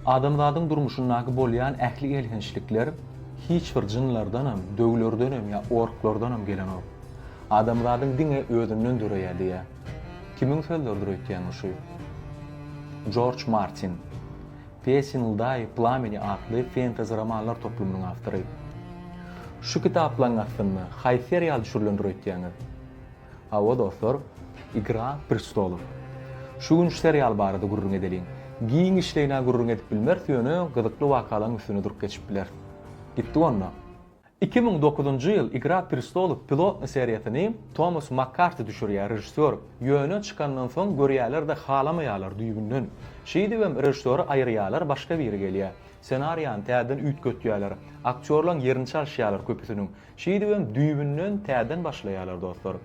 Adamzadyň durmuşyndaky bolýan ähli elhençlikler hiç bir jynlardanam, döwlerdenem ýa orklardanam gelenok. Adamzadyň diňe özünden döreýär diýýär. Kimiň sözleridir öýtýäňiz şu? Jorj Martin. Pýesin ldaý plameni atly fentezi romanlar toplumynyň awtory. Şu kitaplaryň astynda haýsy serial düşürilendir öýtýäňiz? Hawa dostlar, Igra prestolov. Şu gün şu serial barada gürrüň edeliň. Giň işleýin-ä gürrüň edip bilmeris ýöne gyzykly wakalaň üstüne durup geçip biler. Gitdik onda. Iki müň dokuzynjy ýyl Igra prestolov pilotny seriýasyny Tomas Makkarti düşürýär režissýor, ýöne çykandan soň görýäler-de halamaýalar düýbünden. Şeýdibem režissýory aýyrýalar başga biri gelýär. Ssenariýany täzeden üýtgetýäler. Aktýorlaň ýerini çalyşýalar köpüsiniň. Şeýdibem düýbünden täden başlaýarlar dostlar.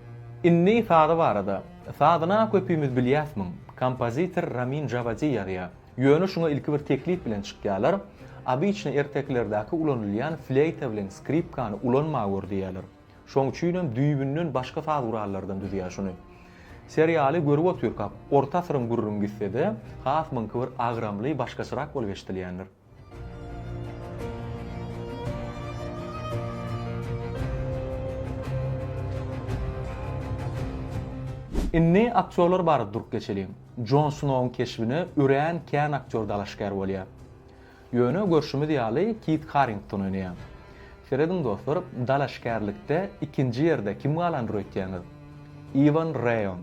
Indi sazy barada. Sazyna köpümiz bilýäs muň. Kompozitor Ramin Jawadi ýazýar. Ýöne şuňa ilki bir teklip bilen çykýarlar. Obyçny ertekilerdäki ulanylýan fleýta bilen skripkany ulanma gör diýýärler. Şoň üçinem düýbünden başga saz gurallardan düzýär şuny. Serialy görüp otyrkak, orta asyryň gürrüňi gitsede, has muňky bir agramly, başgaçarak bolup eşdilýändir. Indi aktýorlar barada durup geçeliň. Jon Snouň keşbine örän kän aktýor dalaşgär bolýar. Ýöne görşümiz ýaly Kit Harrington oýnaýar. Serediň dostlar, dalaşgärlikde ikinji ýerde kim galanyr öýtýäňiz? Iwan Reýon.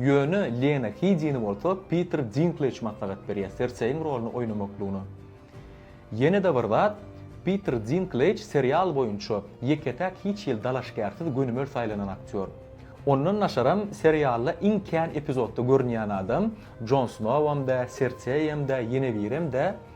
Ýöne Lena Heýdini bolsa Piter Dinklej maslahat berýär Serseýiň roluny oýnamaklygyna. Ýene-de bir zat, Piter Dinklej serial boýunça ýeke-täk hiç hili dalaşgärsiz gönümel saýlanan aktýor. Ondan daşaram serialda iň kän epizodda görünýän adam, Jon Snowam dä, Serseýem dä, Ýenewirem dä,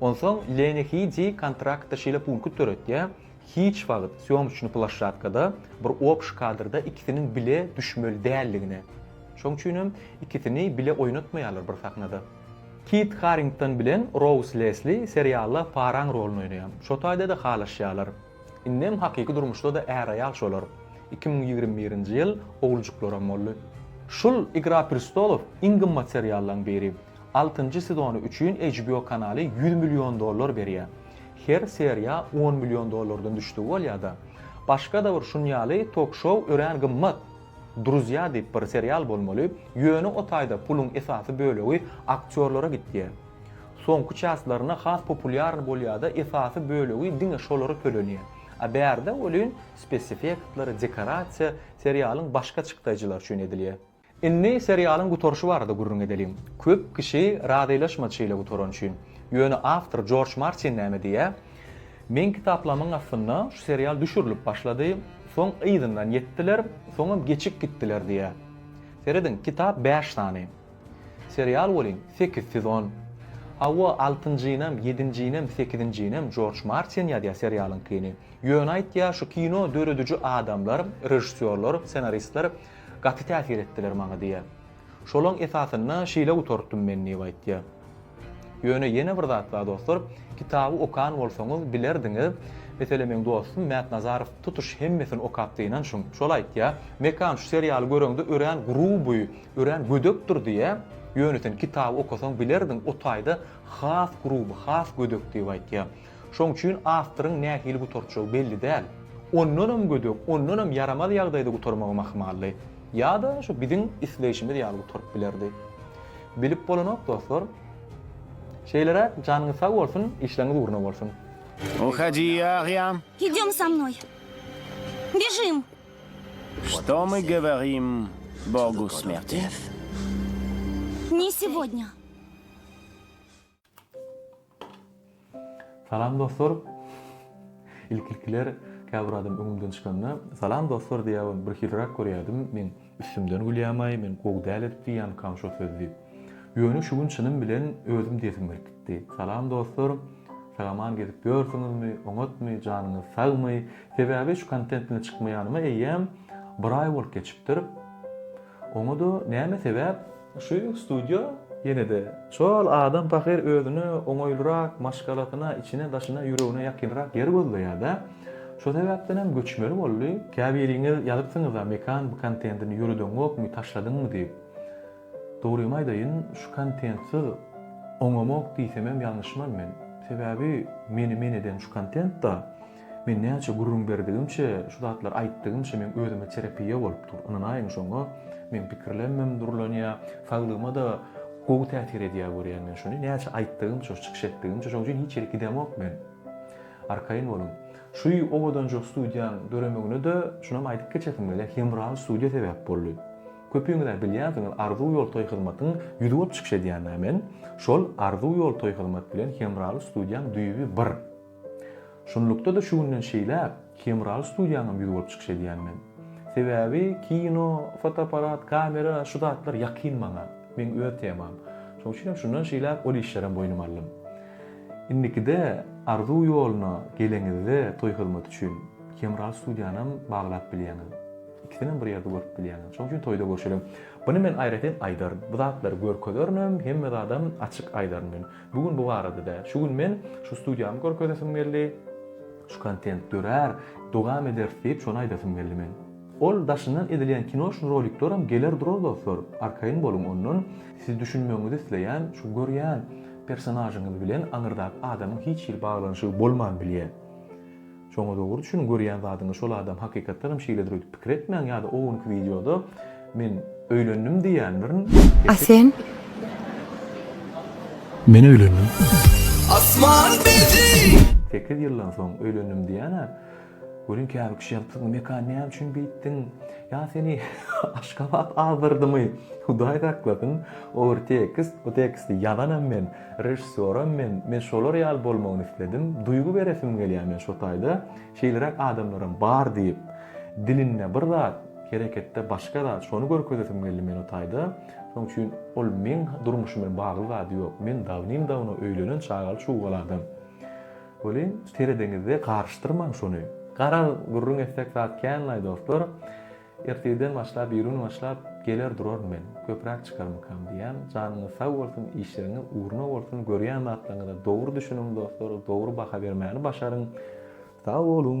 Onsoň Leni Hidi kontraktda şeýle punkt döretýär, Hiç wagt sýomçny plaşşatkada bir obş kadrda ikisiniň bile düşmeli däldigine. Şoň üçin hem ikisini bile oýnatmaýarlar bir sahnada. Kit Harrington bilen Rouz Lesli serialda paraň roluny oýnaýar. Şo taýda-da halaşýarlar. Indem hakyky durmuşda-da är-aýal şolar. Iki müň ýigrimi birinji ýyl oglujuklaram boldy. Şul Igra prestolow iň gymmat seriallaryň biri. Altynjy sezony üçin HBO kanaly ýüz million dollar berýär. Her seriýa on million dollardan düşdügi bolýar-da. Başga-da bir şun ýaly tok-şou örän gymmat. Druzýa diýip bir serial bolmaly, ýöne o taýda puluň esasy bölegi aktýorlara gitýär. Soňky çästlerine has populýarny bolýar-da esasy bölegi diňe şolara tölenýär. A bärde welin speseffektler, dekorasiýa serialyň başga çykdaýjylary üçin edilýär. Indi serialyň gutaryşy barada gürrüň edeliň. Köp kişi razylaşmady şeýle gutaran üçin. Ýöne awtor Jorj Martin näme diýýär, Meň kitaplamyň astynda şu serial düşürilip başlady, soň yzyndan ýetdiler, soňam geçip gitdiler diýýär. Serediň, kitap bäş sany. Serial welin sekiz sezon. Hawa, altynjynyam, ýedinjinem, sekizinjinem Jorj Martin ýazýar serialyňkyny. Ýöne aýtýar, şu kino dörediji adamlar, režissýorlar, ssenaristler, Gaty täsir etdiler maňa diýýär. Şolaň esasynda şeýle gutartdym men diýip aýtýar. Ýöne ýene bir zat bar dostlar, kitaby okan bolsaňyz bilerdiňiz, meselem meň dostum Mät Nazarow tutuş hemmesini okapdy ynanşyň. Şol aýtýar, Mekan şu serialy göreňde örän gruby, örän gödekdir diýýär, ýöne sen kitaby okasaň bilerdiň o taýda has gruby, has gödek diýip aýtýar. Şoň üçin awtoryň nähili gutarjagy belli däl. Ondanam gödek, ondanam ýaramaz ýagdaýda gutarmagam ahmaldy. Ýa-da şu biziň isleýşimiz ýaly gutaryp bilerdi. Bilip bolanok, dostlar. Şeýleräk, janyňyz sag bolsun, işleriňiz ugruna bolsun. Uhodyý, agýam. Idem sa mnoý. Bježim. Što my govorim Bogu smjerti? Ne segodnja. Salam dostlar. Ilki-ilkiler käbir adam öňümden çykanda, Salam dostlar diýýäwem, birhiliräk görýärdim. Men üstümden gülýämaý, men gowy däl edip diýýämkam şo sözi diýip. Ýöne şu gün çynym bilen özüm diýesim gelip gitdi. Salam dostlar. Sagaman gezip ýörsüňizmi? Oňatmy? Janyňyz sagmy? Sebäbi şu kontent bilen çykmaýanyma eýýäm bir aý bolup geçipdir. Oňada näme sebäp? Şu studiýa ýenede. Şol adam pahyr özüne oňaýlyrak, maşgalasyna, içine-daşyna, ýüregine ýakynrak ýer gözleýärda. Şo sebäpdenem göçmeli boldy. Käbiriňiz ýazypsyňyz-a Mekan bu kontentini ýöredeňokmy, taşladyňmy diýip. Dogrymy aýdaýyn, şu kontentsiz oňamok diýsemem ýalňyşman men. Sebäbi meni men eden şu kontent-da. Men näçe gürrüň berdigimçe, şu zatlary aýtdygymça meň özüme terapiýa bolup dur. Ynanaýyň şoňa, meň pikirlemim durlanýar, saglygyma-da gowy täsir edýär görýän men şuny. Näçe aýtdygymça, çykyş etdigimçe, şoň üçin hiç ýere gidemok men. Arkaýyn boluň. Şu owadanja studiýaň döremegine-de şunam aýdyp geçesim gelýär, Hemral studiýa sebäp boldy. Köpüňiz-ä bilýänsiňiz, Arzuw ýoltoý hyzmatyň ýüzi bolup çykyş edýän-ä men. Şol Arzuw ýoltoý hyzmat bilen Hemral studiýaň düýbi bir. Şunlukda-da şu günden şeýläk Hemraly studiýaňam ýüz bolup çykyş edýän men. Sebäbi kino, fotoapparat, kamera şu zatlar ýakyn maňa, meň öz temam. Şoň üçin hem şundan şeýläk ol işlerem boýnuma aldym. Indikide Arzuw ýoluna geleňizde toý hyzmaty üçin Hemraly studiýanam baglap bilýäňiz. Ikisinem bir ýerde görüp bilýäňiz. Şoň üçin toýda görşeliň. Buny men aýratyn aýdaryn. Bu zatlary görkezerin hem, hemme zadam açyk aýdaryn men. Bu gün bu barada däl. Şu gün men şu studiýamy görkezesim geldi. Şu kontent dörär, dowam ederis diýip şony aýdasym geldi men. Ol daşyndan edilýän kino üçin rolikleram geler durar dostlar, arkaýyn boluň ondan. Siz düşünmegiňizi isleýän şu görýän personažyňyz bilen aňyrdaky adamyň hiç hili baglanyşygy bolman bilýär. Şoňa dogry düşün görýän zadyňa şol adam hakykatdan hem şeýledir öýdüp pikir etmäň ýada o günki wideoda men öýlendim diýýändirin A sen? Men öýlendim. Asman bizi. Sekiz ýyldan soň öýlendim diýýänä görýän käbir kişi ýazypsyň bu mekan näme üçin beýtdiň ýa seni Aşgabat azdyrdymy hudaý saklasyn ogry tekst bu teksti ýazanam men. Režissýoram men, men şolar ýaly bolmagyny isledim, duýgy beresim gelýär men şo taýda, şeýleräk adamlaram bar diýip, dilinde bir zat, hereketde başga zat, şony görkezesim geldi men o taýda, şoň üçin ol meň durmuşym bilen bagly zady ýok, men dawnim-dawno öýlenen çagaly-çugaly adam. Welin, seredeňizde garyşdyrmaň şony. Garaz, gürrüň etsek zat kän-laý dostlar. Ertirden başlap birigün başlap geler duraryn men köpräk çykarmykam diýýän janyňyz sag bolsun işleriňiz ugruna bolsun görýän zatlaryňyza dogry düşüniň dostlar dogry baha bermäni başaryň sag boluň.